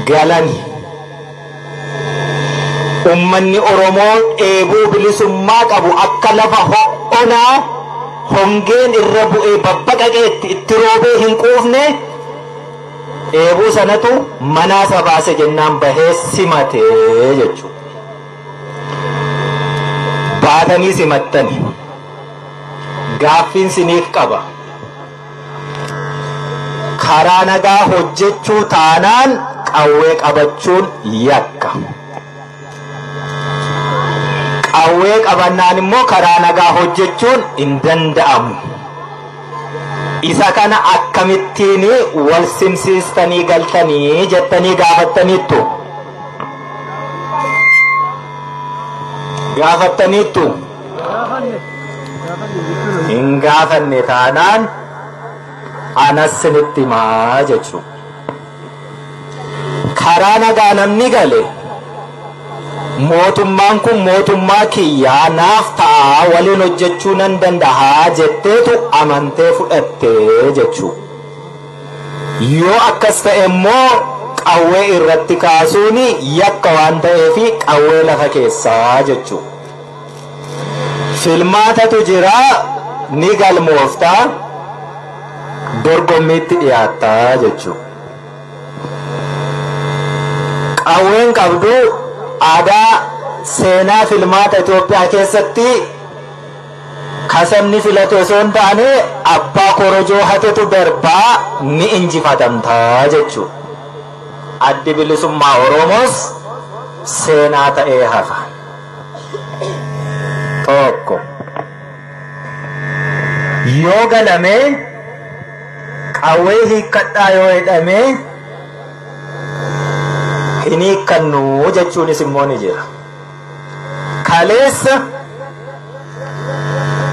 galani ummanni Oromoo dheebuu bilisummaa qabu akka lafa ho'onaa hongeen irra bu'ee babbaqaqeetti itti roobee hin quufne dheebuu sanatu manaa isa baase jennaan bahee simate jechuudha. Baatanii simattani gaaffiin siniif qaba. karaa nagaa hojjechuu taanaan qawwee qabachuun yakka. Qawwee qabannaan immoo karaa nagaa hojjechuun hin danda'amu. Isa kana akkamittiin wal simsiistanii galtanii jettanii gaafattaniittu. Gaafattaniittu. hin gaafanne taanaan anas sinitti himaa jechuu karaa nagaa namni gale mootummaan kun mootummaa kiyyaa naaf ta'a waliin hojjechuu nan danda'a jetteetu amantee fudhattee jechuu yoo akkas ta'e immoo qawwee irratti kaasuun yakka waan ta'eef qawwee lafa keessaa jechuu Filmaatatu jira ni galmoofta dorgommiitti dhiyaatta jechuudha. Qawween qabdu aadaa seenaa filmaata Itoophiyaa keessatti kasabni filatu osoo hin taane abbaa korojoo hatetu darbaa ni injifatamta jechuudha. Addi bilisummaa Oromoos seenaa ta'ee hafa. tokko yoo ganamee qawwee hiikkadhaa yoo jedhamee hin hiikkannu jechuunis immoo ni jira. Kaleessa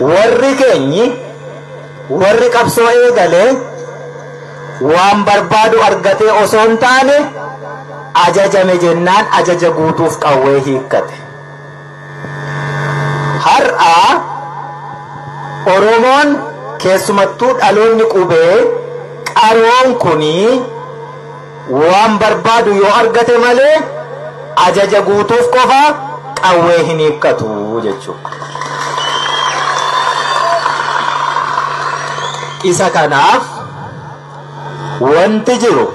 warri keenyi Warri qabsoo eegale waan barbaadu argatee osoo hin taane ajajame jennaan ajaja guutuuf qawwee hiikkate. Har'a Oromoon keessumattuu dhaloonni qubee qaroon kuni, Waan barbaadu yoo argate malee ajaja guutuuf qofa qawwee hin hiikkatu jechuudha. Isa kanaaf wanti jiru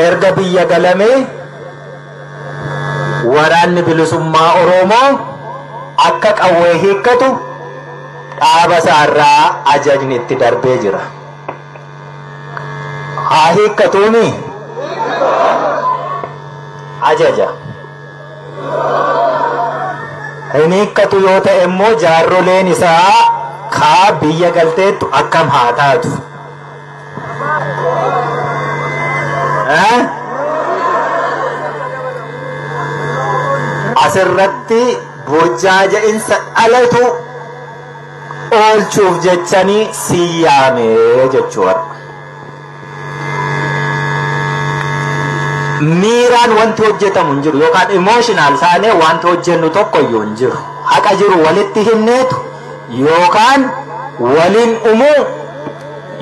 erga biyya galamee waraanni bilisummaa Oromoo akka qawwee hiikkatu dhaaba isaarraa ajajni itti darbee jira. haa hiikkatuuni ajaja hin hiikkatu yoo ta'e immoo jaarroleen isaa kaa biyya galteettu akkam haa taatu Eh? asirratti burjaaja'insa dhalatu oolchuuf jechanii si yaame jechuu warra. Miiraan wanti hojjetamu hin jiru yookaan emotional taanee wanti hojjennu tokko iyyuu hin jiru. Haqa jiru walitti himneetu yookaan waliin umuu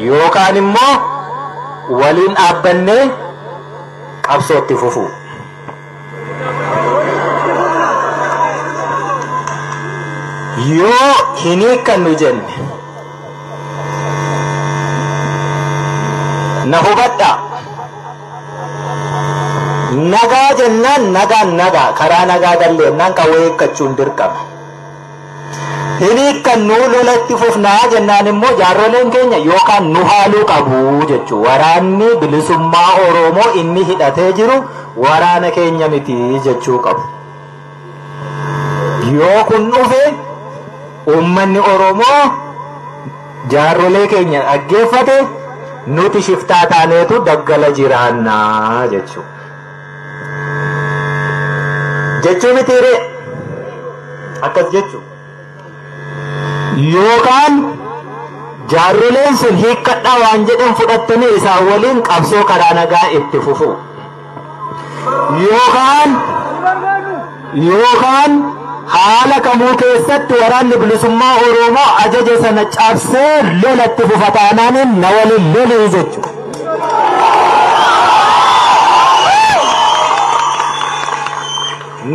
yookaan immoo waliin dhaabbannee qabsootti fufuu. yoo hin hiikkannu jenne na hubadha nagaa jennaan nagaan nagaa karaa nagaa galleennaan qawwee hiikkachuun dirqama Hin hiikkannu lola itti fufna jennaan immoo jaarroleen keenya yookaan nu haaluu qabu jechu. Waraanni bilisummaa Oromoo inni hidhatee jiru waraana keenya miti jechuu qabu. Yoo kun dhufe uummanni Oromoo jaarrolee keenya dhaggeeffate nuti shiftaa taaneetu daggala jiraannaa jechuudha. jechuu mitiiree akkas jechu yookaan jaarroleen sun hiikkadhaa waan jedhan fudhattanii isaan waliin qabsoo karaa nagaa itti fufuu yookaan yookaan haala kamuu keessatti Waraanni Bilisummaa Oromoo ajaja sana cabsee lola itti fufa taanaan na waliin lolii jechuudha.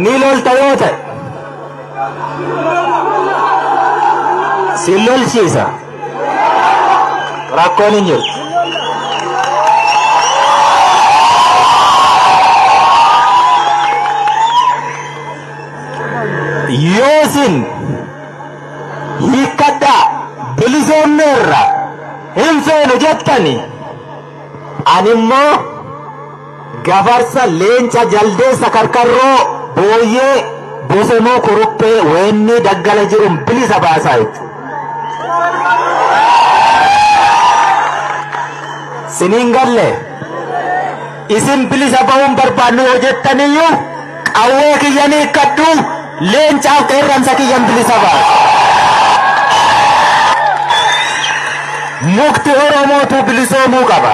Ni lolta yoo ta'e si lolchiisa. Rakkoon hin jiru. Yoo isin hiikkadhaa bilisoomne irra hin feenu jettani ani immoo Gafarsa, Leenca, Jaldeessa, Karkarroo, Booyyee, Bosonuu, Kuruphee, Weennii, Daggala jiruun bilisa baasaa jechuudha. Siniin galle isin bilisa ba'uun barbaannu yoo jettaniyyuu qawwee kiyyan hiikkadhu leencaaf qeerransa kiyyan bilisa baasa. Mukti Oromootu bilisoomuu qaba.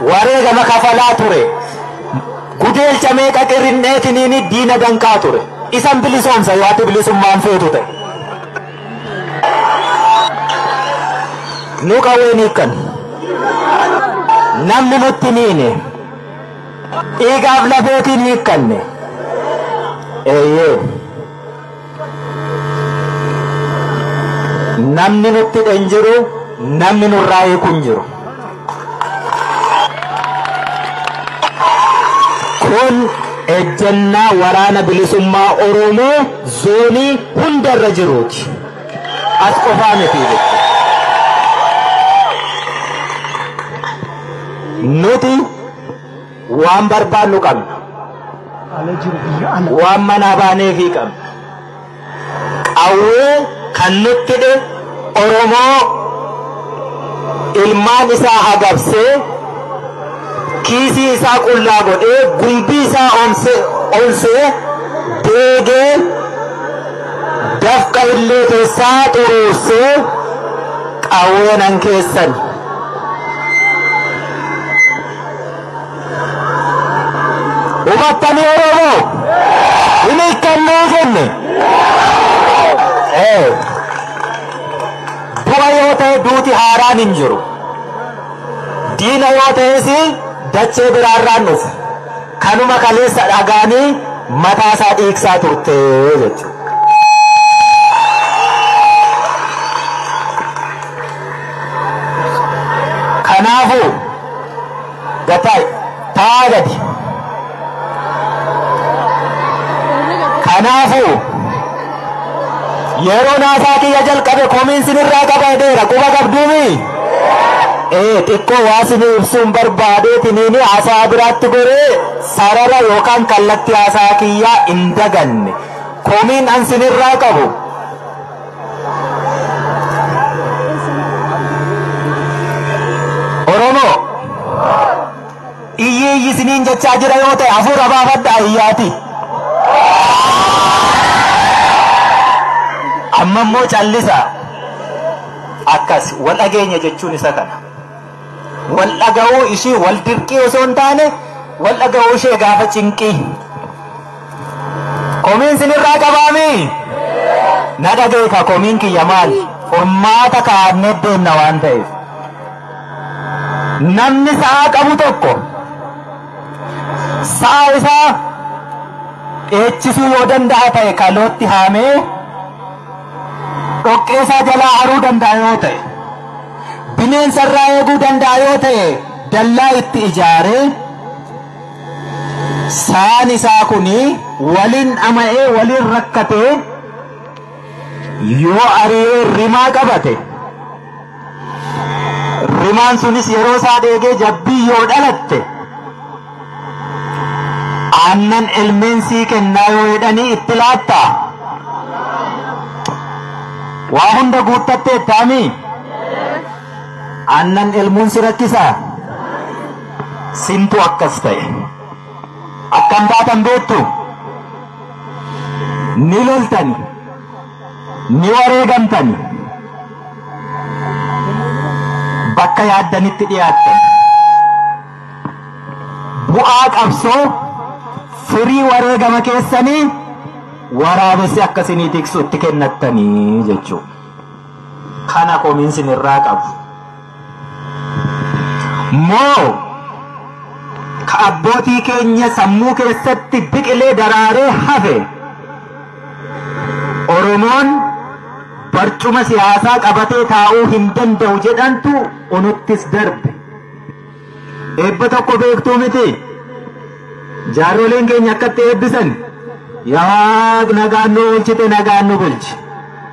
Wareegama kafalaa ture. Gudeelcha meeqa qirrin'eetiniini diina danqaa ture. Isan bilisoomsa yoo ati bilisummaan feetu ta'e. Nu qawween hiikkan. Namni nutti miine. Dhiigaaf lafeetiin hiikkanne. Eeyyee. Namni nutti hidhe hin jiru, namni nurraa hiiku hin jiru. Kun ejjennaa waraana bilisummaa Oromoo zoonii hundarra jiruuti. As qofaa miti jechuudha. Nuti Waan barbaannu qabna. Ala jiru biyya ala. Waan manaa baaneefii qabna. Qawwee kan nutti dhe Oromoo ilmaan isaa hagabsee kiisii isaa qullaa godhee gumbii isaa onse- onsee deegee dafqa illee keessaa xuruursee qawweenan keessan. Hubattanii Oromoo? Hin hiikkannee jenne. Ee. Du'a yoo ta'e duuti haaraan hin jiru. Diina yoo ta'es dachee biraarraan dhufe. Kanuma kaleessa dhagaanii mataa isaa dhiigsaa turte jechuudha. Kanaafuu. Gatai. Taa gadi. Kanaafuu yeroo naasaa kiyya jalqabe komiin sinirraa qaba jedheera quba qabduumi. Ee xiqqoo waa sini ibsuun barbaadeetiniini haasaa biraatti goree sarara yookaan kallattii haasaa kiyyaa hin daganne. Komiin an sinirraa qabu Oromoo iyyi iyyi isiniin jechaa jira yoo ta'e hafuura baafadhaa iyyaati. Amma immoo callisa akkas wal dhageenya jechuun isa kana. Wal dhaga'uu ishii wal dirqii osoo hin taane wal dhaga'uu ishee gaafa cinqii. Komiin sinirraa qabaami? Na dhageeka komiin kiyya maali? Furmaata kaa'annee deemna waan ta'eef. Namni sa'a qabu tokko sa'a isaa dheechisuu yoo danda'a ta'e kalootti haamee dhoqqee isaa jalaa haruu danda'a yoo ta'e. bineensa irraa eeguu danda'a yoo ta'e dallaa itti ijaaree saan isaa kun waliin dhama'ee waliin rakkatee yoo ari'ee rimaa qabate rimaan sunis yeroo isaa dheegee jabbii yoo dhalatte Aannan ilmeen sii kennaa yoo jedhanii itti laatta? Waa hunda guuttatteettaa mii? Aannan elmuun si rakkisaa? Sintu akkas ta'e. Akkam taatan beektu? Ni loltani. Ni wareegamtani. Bakka yaaddanitti dhiyaattan. Bu'aa qabsoo firii wareegama keessanii waraabessi akka isinii tiksu itti kennattanii jechuudha. Kana komiin isin irraa qabu. Moo ka abbootii keenya sammuu keessatti biqilee daraaree hafe Oromoon barcuma siyaasaa qabatee taa'uu hin danda'u jedhantu unuttis darbe. Eebba tokko beektuu miti. Jaarroleen keenya akkatti eebbisan yaa waaq nagaan nu oolchite nagaan nu bulchi.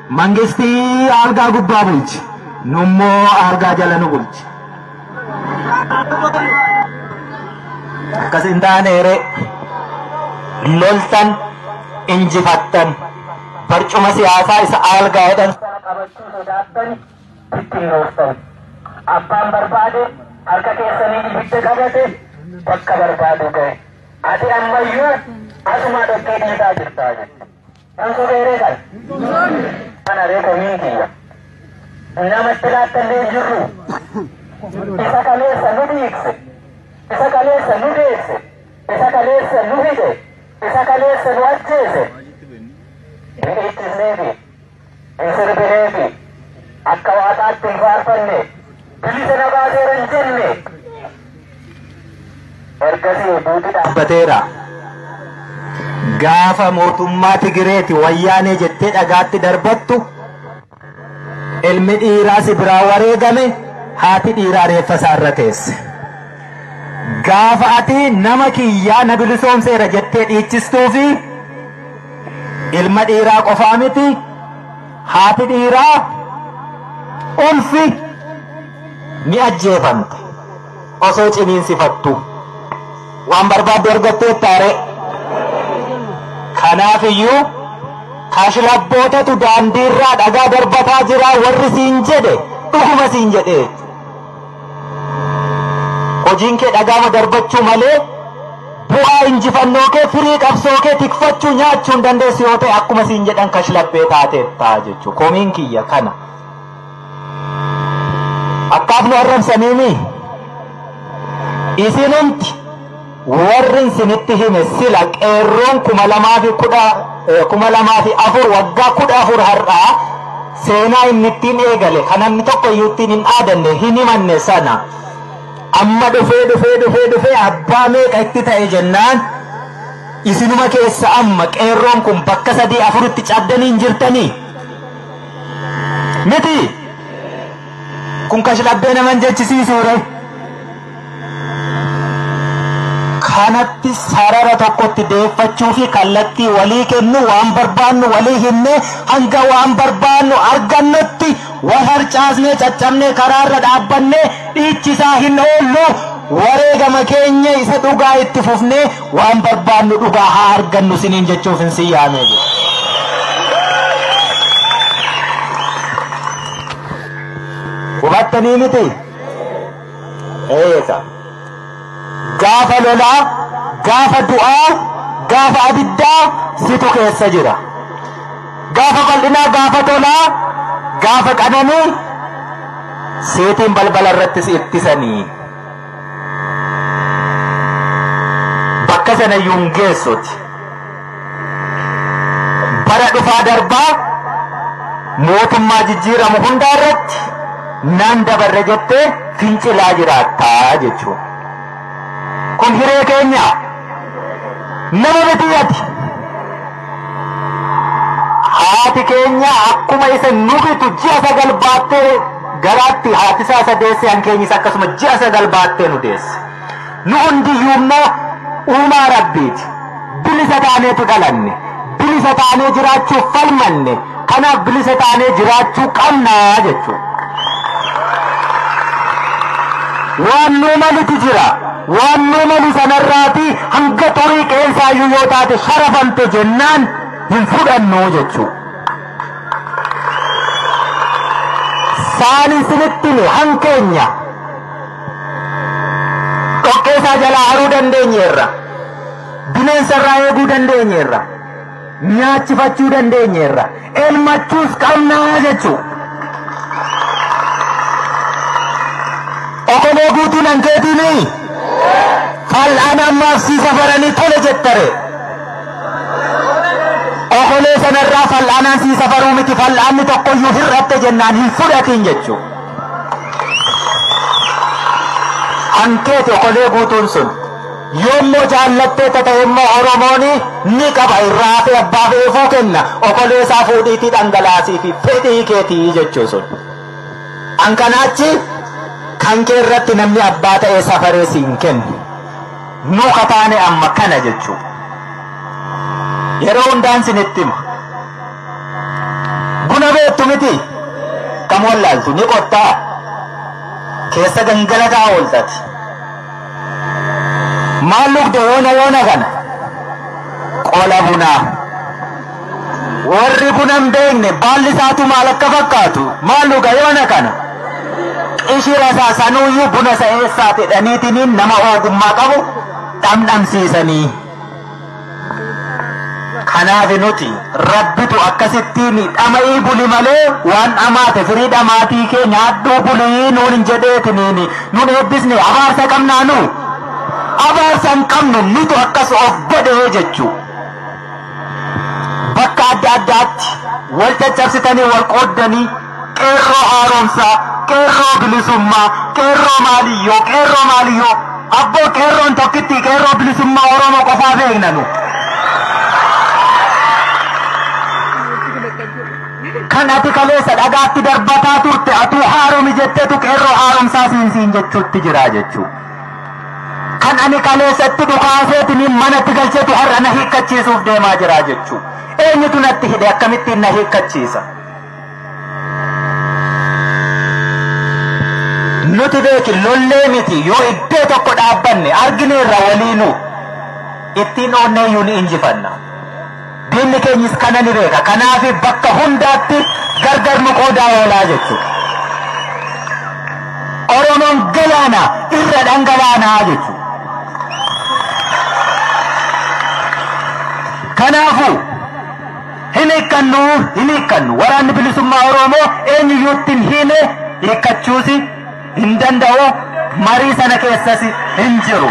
Mangistii algaa gubbaa bulchi. Nummoo algaa jala nu bulchi. Akkas hin taaneere. Loltan injifattan barcuma siyaasaa isa algaa jedhan sana qabachuu sodaattani. itti hin ooftan. Abbaan barbaade harka keessaniin ibidda qabate bakka barbaadu ga'e. Ati ammayyuu asumaa dhoqqee dhiisaa jirta jette. Kan sobeeree kan. Kana ree komiin kiyya. Namatti laattallee hin jirru. Isa kaleessa nu dhiigse. Isa kaleessa nu deesse. Isa kaleessa nu hidhe. Isa kaleessa nu ajjeese. Dhiichis neefi. hin sirbinee fi akka waaqaatti hin faarfanne bilisa na baaseera hin jenne ergasii duuti dhaabbateera. Gaafa mootummaa Tigireeti wayyaanee jettee dhagaatti darbattu ilmi dhiiraa si biraa wareegame haati dhiiraa reeffa isaa irra teesse. Gaafa ati nama kiyyaa na bilisoomseera jettee dhiichistuu fi Ilma dhiiraa qofaa miti haati dhiiraa ulfi ni ajjeefamte osoo ciniinsifattu waan barbaadde argattee taaree kanaaf iyyuu kashlabbootatu daandiirraa dhagaa darbataa jira warri siin jedhe dhuguma siin jedhe Hojiin kee dhagaama darbachuu malee bu'aa injifannoo kee firii qabsoo kee tikfachuu nyaachuu hin dandeessu yoo ta'e akkuma siin jedhan kashlabbee taateetta jechuu komiin kiyya kana. Akkaaf nu arrabsaniimi isinumti Warrin sinitti hime sila qeerroon 2004 waggaa 14 har'aa seenaa inni ittiin eegale kan namni tokko iyyuu ittiin hin dhaadanne hin himanne sana amma dhufee dhufee dhufee dhufee abbaa meeqa itti ta'e jennaan isinuma keessa amma qeerroon kun bakka sadii afuritti caddanii hin jirtanii miti kun kashlabbee naman jechisiisuure. kanatti sarara tokkotti deeffachuu fi kallattii walii kennu waan barbaannu walii himne hanga waan barbaannu argannutti wal harcaasnee caccabnee karaarra dhaabbannee dhiichisaa hin oollu wareegama keenya isa dhugaa itti fufnee waan barbaannu dhugaa haa argannu siniin jechuuf hin siyyaamee jiru. Hubattanii miti? Eeyesa. Gaafa lolaa, gaafa du'aa, gaafa abiddaa situ keessa jira. Gaafa bal'inaa, gaafa tolaa, gaafa qananii seetiin balbala irratti si ittisanii. Bakka sana iyyuu hin geessuti. bara dhufaa darbaa mootummaa jijjiiramu hundaa irratti nan dabarre jettee fincilaa jiraattaa jechuudha. Kun hiree keenya nama miti ati. Haati keenya akkuma isa nu bitu ji'a sagal baattee garaatti haati isaa isa deesse hankeenyis akkasuma ji'a sagal baattee nu deesse. Nu hundiyyuu immoo uumaa Rabbiiti. Bilisa taaneetu dhalanne. Bilisa taanee jiraachuuf falmanne. Kanaaf bilisa taanee jiraachuu qabna jechuudha. waan nu malitu jira waan nu malu sanarraati hanga xurii qeensaayyuu yoo taate sharafamte jennaan hin fudhannu jechuu saani sinittini hankeenya Dhoqqeesaa jalaa haruu dandeenyeerra. Bineensarraa eeguu dandeenyeerra. Nyaachifachuu dandeenyeerra. Elmachuus qabnaa jechuu. Okomoo guutuu nan keetiinii? Fal'aan ammaaf sii safaranii tole jettare. Okolee sanarraa fal'aanaan sii safaruu miti fal'aanni tokkoyyuu hir'atte jennaan hin fudhatiin jechuudha. Hankeeti okolee guutuun sun yoommoo jaallattee ta'e immoo Oromoon ni qaba irraa hafe abbaa fe'eefuu kenna okolee isaa fuudhiitii dhangalaasii fi fedhii keetii jechuu sun. An kanaachi kan kee irratti namni abbaa ta'ee safaree siin kennu. Nu kataane amma kana jechuu. Yeroo hundaan sinitti hima. Buna beektu miti kam wallaaltu ni qottaa keessa gangalataa ooltati. Maal lugda yoona yoona kana qola bunaa. Warri buna hin beekne baalli isaatu maal akka fakkaatu maal luga yoona kana. Qishira isaa sanuuyyuu buna isa eessaati dhaniitiniin nama ogummaa qabu dhamdhamsiisanii. Kanaaf nuti rabbitu akkasittiin dhama'ii buli malee waan dhamaate firii dhamaatii kee nyaadhuu bulii nuun hin jedheetiniin nuun eebbisne abaarsa qabnaa nu abaarsa hin qabnu nutu akkas of godhee jechuu bakka adda addaatti wal caccabsitanii wal qooddanii Qeerroo haaromsaa, qeerroo bilisummaa, qeerroo maaliyyoo, qeerroo maaliyyoo. Abboo qeerroon tokkitti qeerroo bilisummaa Oromoo qofaa beekna nu. Kan ati kaleessa dhagaatti darbataa turte atuu haaromi jettetu qeerroo haaromsaa siinsiin jechuutti jira jechuu. Kan ani kaleessatti dhukaaseetiin manatti galchetu har'a na hiikkachiisuuf deemaa jira jechuu. Eenyutu natti hidhe akkamittiin na hiikkachiisa? nuti beeki lollee miti yoo iddoo tokko dhaabbanne argineerra waliinuu ittiin oonneeyyuu ni injifanna. Diinni keenyis kana ni beeka. Kanaaf bakka hundaatti gargar nu qoodaa oolaa jechuudha. Oromoon galaana irra dhangalaanaa jechuudha. Kanaafuu Hin hiikkannu! Hin hiikkannu! Waraanni Bilisummaa Oromoo eenyuyyuutti hin hiine, hiikkachuusi hin danda'u, marii sana keessasi hin jiru.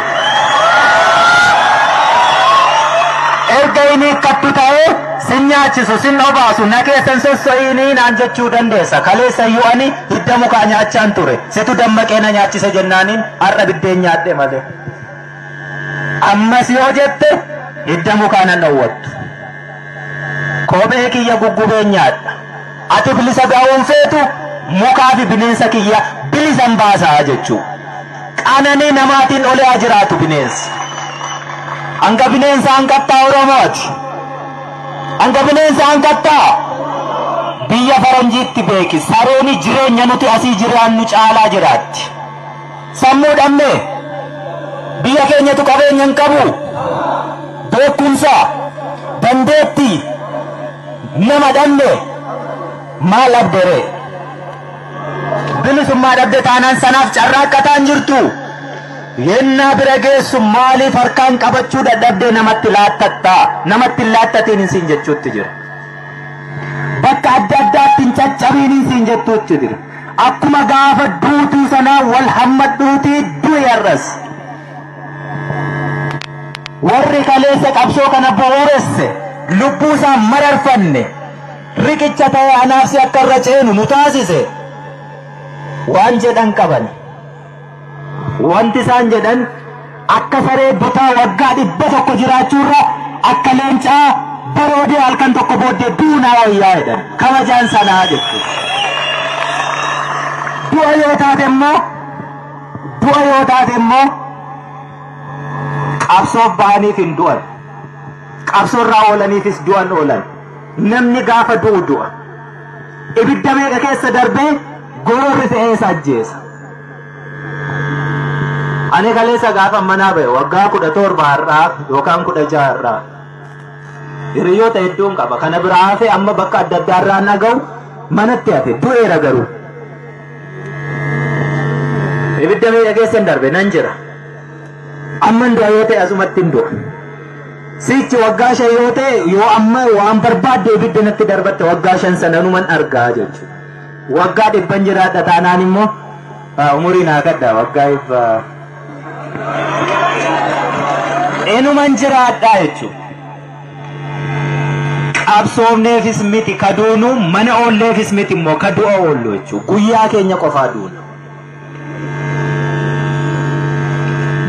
Erga hin hiikkattu ta'ee sin nyaachisu, sin obaasu, na keessa hin sosso'iinii naan jechuu dandeessa. Kaleessa iyyuu ani hidda mukaa nyaachaan ture. Situ dammaqee na nyaachise jennaaniin har'a biddeen nyaadhe malee. Ammas yoo jette hidda mukaa nan dhowwattu. Kophee kiyya guggubeen nyaadha. Ati bilisa ba'uu hin feetu, mukaa fi bineensa kiyya bilisan baasa jechuu. Qananii namaatiin olee haa jiraatu bineensi. Hanga bineensa hanqattaa Oromooti. Hanga bineensa hanqattaa biyya faranjiitti beeki. Sarooni jireenya nuti asii jiraannu caalaa jiraatti. Sammuu dhabne. Biyya keenyatu qabeenya hin qabu. Beekumsa, dandeetti, nama dhabne. Maal dhabde ree? Bilisummaa dhabde taanaan sanaaf carraaqqataa hin jirtu. Yennaa bira geessu maaliif harkaan qabachuu dadhabdee namatti laattatta? Namatti hin laattatiin hin siin jechuutti jira. Bakka adda addaatti hin caccabiin hin siin jettuutti jira. Akkuma gaafa duutuu sanaa wal hammadhuutii du'i har'as. Warri kaleessa qabsoo kana bu'uuresse lubbuu isaa mararfanne riqicha ta'ee anaafsi akka irra ceenu nu taasise waan jedhan qabani. Wanti isaan jedhan akka saree butaa waggaa dhibba tokko jiraachuurra akka leencaa baroodee halkan tokko booddee du'u naa wayyaa jedhan kabajaan sanaa jechuudha. Du'a yoo taate immoo du'a yoo taate immoo qabsoof bahaniif hin du'an qabsoorraa oolaniifis du'an oolan namni gaafa du'u du'a. Ibidda meeqa keessa darbee goorri fe'ee isa ajjeesa. Ani kaleessa gaafa manaa ba'e waggaa kudha torba har'aa yookaan kudha jaha har'aa. Hiriyoota hedduun qaba. Kana biraa hafee amma bakka adda addaa irraa naga'u manatti hafe du'eera garuu. Ibidda meeqa keessa hin darbe nan jira. Amman du'a yoo ta'e asumattin du'a. Sichi waggaa shan yoo ta'e yoo amma waan barbaadde ibidda natti darbatte waggaa shan sananuman argaa jechuudha. Waggaa dhibban jiraadha taanaan immoo ah, umurii naa kadda waggaa dhibba. Enuman jiraadha jechuudha. Qabsoofneefis miti ka duunu mana oolleefis miti immoo ka du'a oollu jechuudha. Guyyaa keenya qofaa duuna.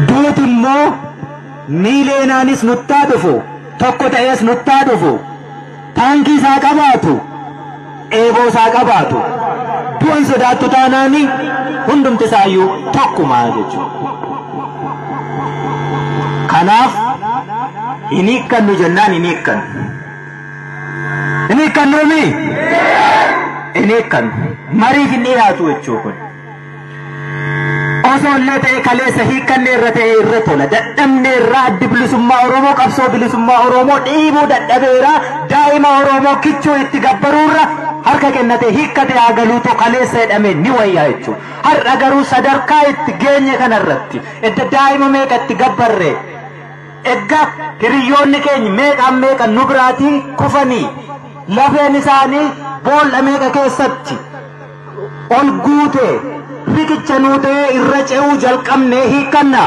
duuti immoo miileenaanis nuttaa dhufu tokko ta'ees nuttaa dhufu taankii isaa qabaatu eeboo isaa qabaatu du'an sodaattu taanaani hundumti isaayyuu tokkuma jechuudha. Kanaaf hin hiikkannu jennaan hin hiikkannu. Hin hiikkannuu mi? Hin hiikkannu. Mariif hin dhiyaatu jechuu kun. Osoo illee ta'e kaleessa hiikkannee irra ta'e irra tola. Dadhabnee irraa addi bilisummaa Oromoo qabsoo bilisummaa Oromoo dhiibuu dadhabeera. Daa'ima Oromoo kichuu itti gabbaruu irra harka kennatee hiikkatee haa galuu too kaleessa jedhamee ni wayyaa jechuudha. Har'a garuu sadarkaa itti geenye kanarratti edda daa'ima meeqa itti gabbarree Egga hiriyyoonni keenya meeqaan meeqa nu biraatii kufanii lafeen isaanii boolla meeqa keessatti ol guute riqicha nuu ta'ee irra ce'uu jalqabnee hiikkanna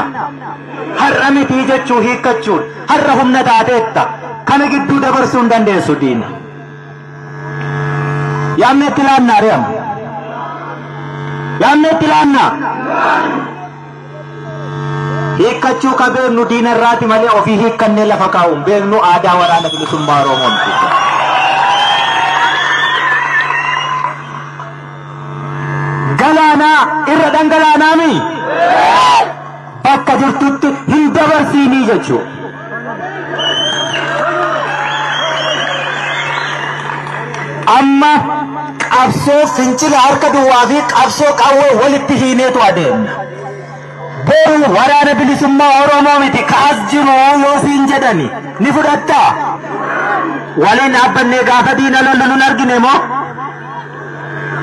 har'a mitii jechuu hiikkachuun har'a humna taateetta kana gidduu dabarsuu hin dandeessu diina. Yaamneetti laannaa re'amu. Yaamneetti laannaa. Hiikkachuu ka beeknu diina irraati malee ofii hiikkannee lafa kaa'u hin beeknu aadaa waraana bilisummaa Oromoo miti. Galaanaa irra dhangalaanaa mi? Bakka jirtutti hin dabarsiinii jechuudha. Amma qabsoo fincila harka duwwaa fi qabsoo qawwee walitti hiineetu adeemna. Boru waraana bilisummaa Oromoo miti kaas jiru yoo siin jedhani ni fudhattaa? Waliin dhaabbannee gaafa diina lollu nun argine moo?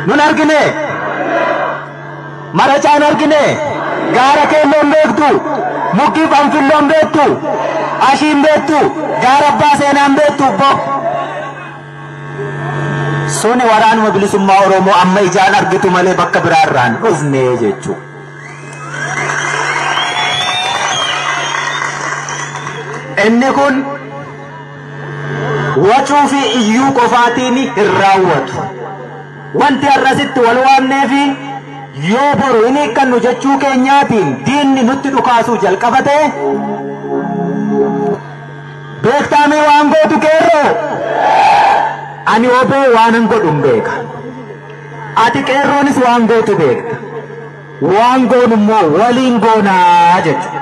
Nun argine? Maracaan argine, gaara keelloon beektu, mukki fanfilloon beektu, ashiin beektu, gaara abbaa seenaan beektu bo. Suni waraanuma bilisummaa Oromoo amma ijaan argitu malee bakka biraa irraa hin dhufne jechuu. Inni kun wacuu fi iyyuu qofaatiin hin raawwatu. Wanti har'a asitti wal waamneefi yoo boru hin hiikkannu jechuu keenyaatiin diinni nutti dhukaasuu jalqaba ta'e beektaamee waan gootu qeerroo ani oboo waanan godhun beeka ati qeerroonis waan gootu beekta Waan goonu immoo waliin goonaa jechuudha.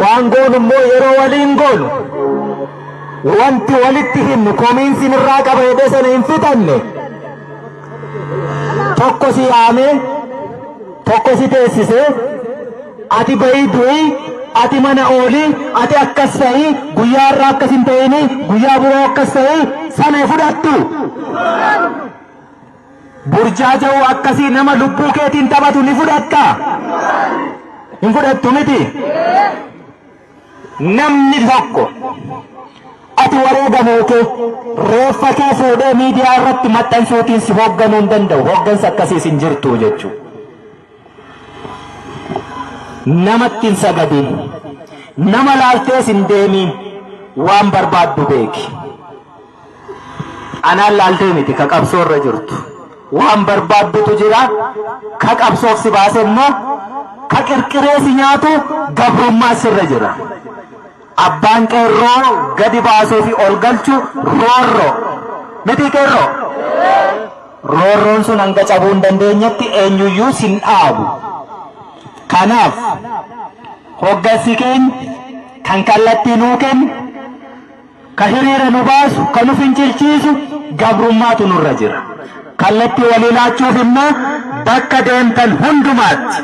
Waan goonu immoo yeroo waliin goonu wanti walitti himnu komiinsiin irraa qaba jedhee sana hin fixanne. tokko si yaame tokko si teessise ati bahii du'i ati mana ooli ati akkas ta'i guyyaa irraa akkas hin ta'ini guyyaa biroo akkas ta'i sana fudhattu burjaaja'u akkasii nama lubbuu keetiin taphatu ni fudhatta hin fudhattu miti Namni tokko ati wareegamoo kee reeffa kee fuudhee miidiyaa irratti maxxansuutiin si hoogganuu hin danda'u. Hooggansa akkasiis hin jirtu jechuudha. Namatti hin sagadiin. Nama laaltees hin deemiin. Waan barbaaddu beeki. Anaan laaltee miti ka qabsoo irra jirtu. Waan barbaaddutu jira. Ka qabsoof si baase immoo ka qirqiree si nyaatu gabrummaa sirra jira. Abbaan qeerroo gadi baasuu fi ol galchu roorroo. Miti qeerroo? Roorroon sun hanga cabuu hin dandeenyetti eenyuyyuu sin dhaabu. Kanaaf hoggansi keenya kan kallattii nuu kennu Ka hiriira nu baasu, ka nu fincilchiisu gabrummaatu nurra jira. Kallattii walii laachuuf immoo bakka deemtan hundumaatti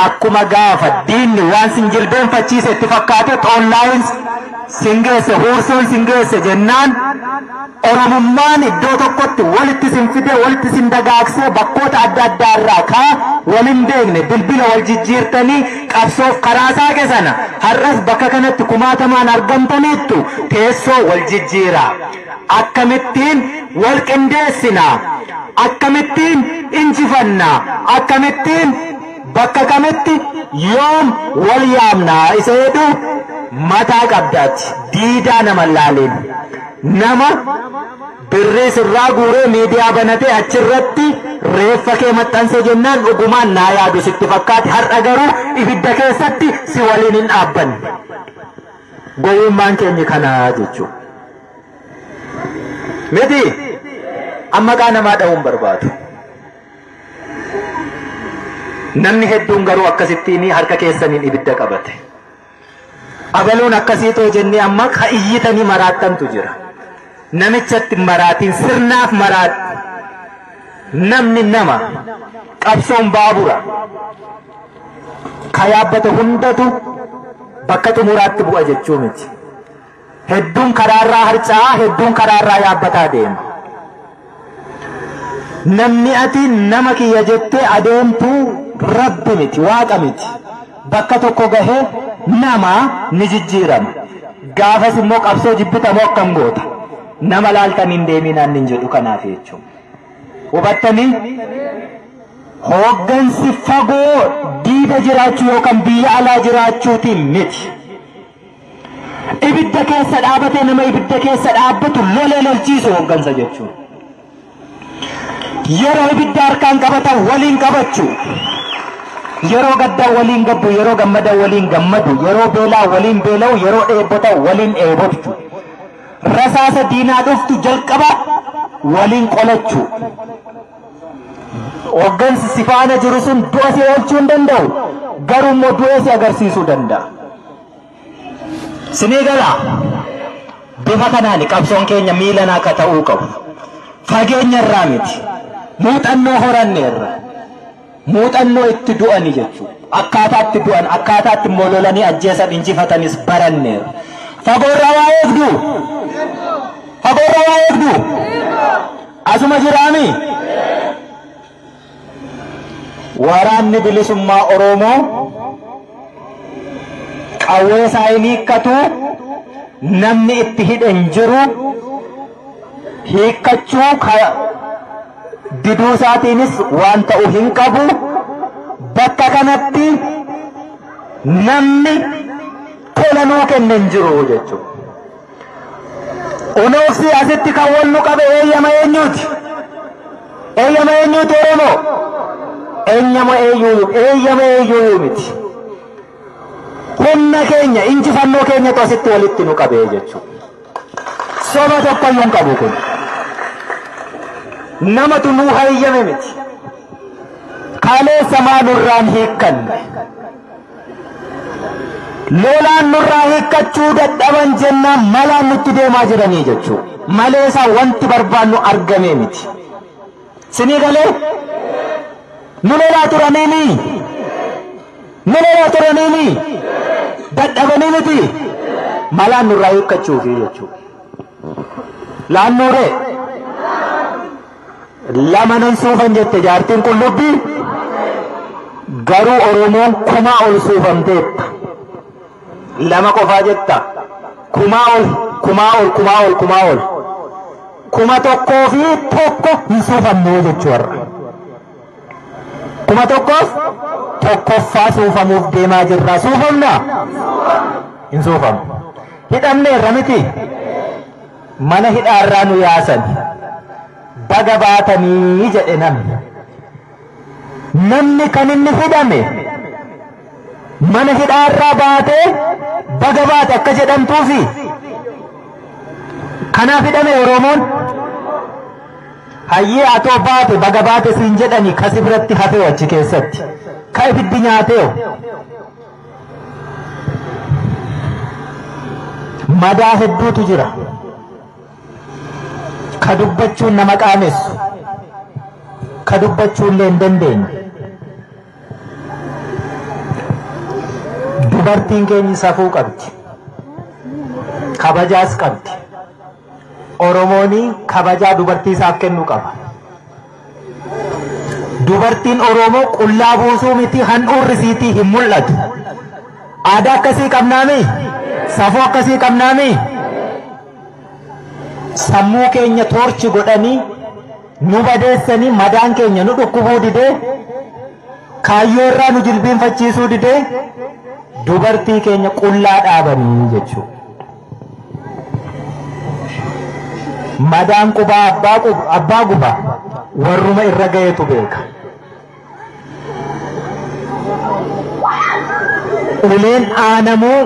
akkuma gaafa diinni waan sin jilbeenfachiise itti fakkaate online sin geesse, huursoon sin geesse jennaan Oromummaan iddoo tokkotti walitti isin fidee, walitti isin dagaagsee bakkoota adda addaa irraa ka wal hin beekne bilbila wal jijjiirtanii qabsoof karaa saaqe sana har'as bakka kanatti kumaatamaan argamtaniittu teessoo wal jijjiiraa. Akkamittiin wal qindeessinaa? Akkamittiin injifannaa? Akkamittiin bakka kamitti yoom wal yaamnaa? Isa jedhu mataa qabdaati. Diidaa nama hin laaliin. nama birrii sirraa guuree miidiyaa banatee achirratti reeffa kee maxxanse jennaan dhugumaan naa yaadu sitti fakkaate har'a garuu ibidda keessatti si waliin hin dhaabbanne. Gowwummaan keenya kanaa jechuudha. Miti amma qaa namaa dha'uun barbaadu. Namni hedduun garuu akkasittiin harka keessaniin ibidda qabate. Abaluun akkasii too jennee amma ka iyyitanii maraattantu jira. Namichatti hin maraatin sirnaaf maraatti. Namni nama qabsoon baabura ka yaabbate hundatu bakka xumuraatti bu'a jechuu miti. Hedduun karaarraa harca'aa, hedduun karaarraa yaabbataa deema. Namni ati nama kiyya jettee adeemtu rabbi miti, waaqa miti. Bakka tokko gahee nama ni jijjiirama. Gaafas immoo qabsoo jibbita moo akkam goota? Nama laaltan hin deeminaan hin jedhu kanaaf jechuudha. Hubattanii? Hooggansi fagoo diida jiraachuu yookaan biyya alaa jiraachuutiin miti. Ibidda keessa dhaabatee nama ibidda keessa dhaabbatu lolee lolchiisu hooggansa jechuun. Yeroo ibidda harkaan qabatan waliin qabachu. Yeroo gaddaa waliin gaddu, yeroo gammada waliin gammadu, yeroo beelaa waliin beela'u, yeroo dheebota waliin dheebotu. Rasaasa diinaa dhuftu jalqaba waliin qolachu. Hoggansi si faana jiru sun du'a si oolchuu hin danda'u. Garuu immoo du'ee si agarsiisuu danda'a. Sinii gala. Bifa kanaan qabsoon keenya miilan akka ta'uu qabu. Fageenya irraa miti. Muuxannoo horanne irra. Muuxannoo itti du'ani jechuudha. Akkaataa itti du'an, akkaataa itti immoo lolanii ajjeesan injifatanis baranneera. Fagoorraa waa eegdu? Fagoorraa waa eegdu? Asuma jiraami? Waraanni bilisummaa Oromoo qawwee isaa hin hiikkatu, namni itti hidhe hin jiru, hiikkachuu ka- diduu isaatiinis waan ta'u hin qabu. Bakka kanatti namni tola nuu kenne hin jiru jechuudha. Unooksii asitti kan wal nu qabe eeyyama eenyuuti? Eeyyama eenyuuti Oromoo? Eeyyama eenyuu eeyyama eenyuu miti. Humna keenya injifannoo keenyatu asitti walitti nu qabee jechuudha. Soba tokkoyyuu hin qabu kun. Namatu nuu hayyame miti. Kaleessa maa nurraan hiikkanne. Lolaan nurraa hiikkachuu dadhaban jennaan malaan nutti deemaa jiranii jechuudha. Malee isaa wanti barbaannu argamee miti. Sinii galee? Nu lolaa turaniini? Nu lolaa turaniini? Dadhabanii miti? Malaan nurraa hiikkachuufi jechuudha. Laannuuree? Lama nan suufan jette jaartiin qullubbii garuu Oromoon kumaa ol suufamteetta. lama qofaa jetta kumaa ol kumaa ol kumaa ol kumaa ol kuma tokkoo fi tokko hin suufamnee jechuu har'a kuma tokkoof tokkoffaa suufamuuf deemaa jirra suufamna hin suufamu hidhamneerra miti mana hidhaarraa nu yaasan baga baatanii jedhe namni Namni kan inni hidhame mana hidhaa irraa baatee baga baate akka jedhamtuufi kanaaf hidhame Oromoon hayyee atoo baate baga baate siin jedhani kasi biratti hafeewu achi keessatti ka ibiddi nyaateewu madaa hedduutu jira. ka dubbachuun nama qaanessa, ka dubbachuullee hin dandeenye. Dubartiin keenyi safuu qabdi, kabajaas qabdi. Oromooni kabajaa dubartii isaaf kennu qaba. Dubartiin Oromoo qullaa buusuu miti handhuurri isiitii hin mul'atu. Aadaa akkasii qabnaami? Safuu akkasii qabnaami? Sammuu keenya toorchi godhanii nu badeessanii madaan keenya nu dhukkubuu didee kaayyoo irraa nu jilbiinfachiisuu didee dubartii keenya qullaa dhaabanii jechuudha. Madaan qubaa abbaa qub- abbaa guba warruma irra gahetu beeka. Uleen dhaanamuu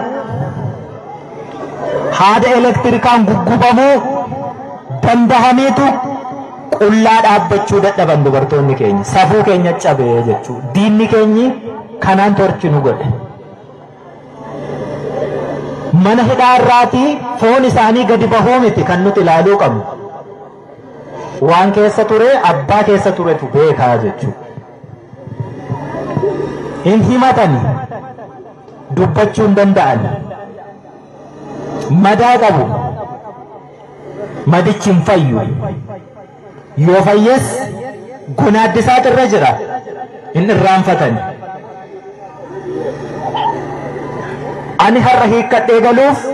haada elektirikaan guggubamuu dandahamiitu qullaa dhaabbachuu dadhaban dubartoonni keenya safuu keenya cabee jechuu diinni keenyi kanaan torchi nu godhe. Mana hidhaa irraatii foon isaanii gadi bahuu miti kan nuti ilaaluu qabnu. Waan keessa ture abbaa keessa turetu beekaa jechuudha. Hin himatani dubbachuu hin danda'an. Madaa qabu. Madichi hin fayyu. Yoo fayyes gonaaddisaatu irra jira. Hin irraanfatani. Ani har'a hiikkadhee galuuf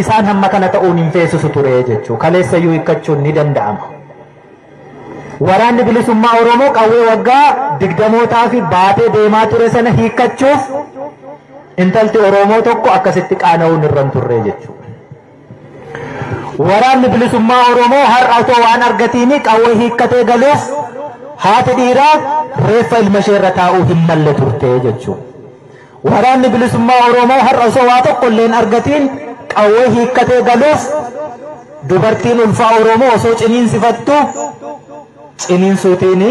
isaan hamma kana ta'uun hin feesisu ture jechuudha. Kaleessayyuu hiikkachuun ni danda'ama. Waraanni bilisummaa Oromoo qawwee waggaa digdamootaa fi baatee deemaa ture sana hiikkachuuf intalti Oromoo tokko akkasitti qaana'uun irra hin turre jechuudha. Waraanni bilisummaa Oromoo har'a otoo waan argatiini qawwee hiikkatee galuuf haati dhiiraa reeffa ilma ishee irra taa'uu hin malle turte jechuudha. Waraanni bilisummaa Oromoo har'a osoo waa tokko illee hin argatiin qawwee hiikkatee galuuf dubartiin ulfaa Oromoo osoo ciniinsifattu ciniinsuutiin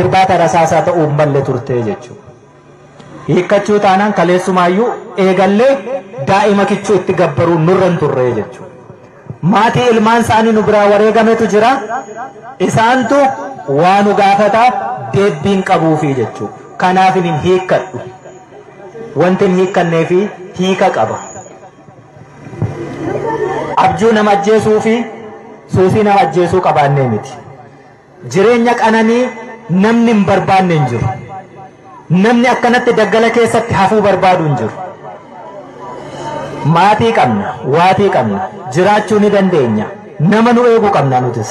irbaata rasaasaa ta'uu hin malle turte jechuudha. Hiikkachuu taanaan kaleessumaayyuu eegallee daa'ima kichuu itti gabbaruun nurra hin turree jechuudha. Maatii ilmaan isaanii nu biraa wareegametu jira. Isaantu waa nu gaafata deebbiin qabuufi jechuudha. Kanaaf hin hiikkadhu. Wanti hin hiikkannee fi hiika qaba. Abjuu nama ajjeesuu fi suusii nama ajjeesuu qabaannee miti. Jireenya qananii namni hin barbaanne hin jiru. Namni akkanatti daggala keessatti hafuu barbaadu hin jiru. Maatii qabna, waatii qabna, jiraachuu ni dandeenya, nama nu eegu qabna nutis.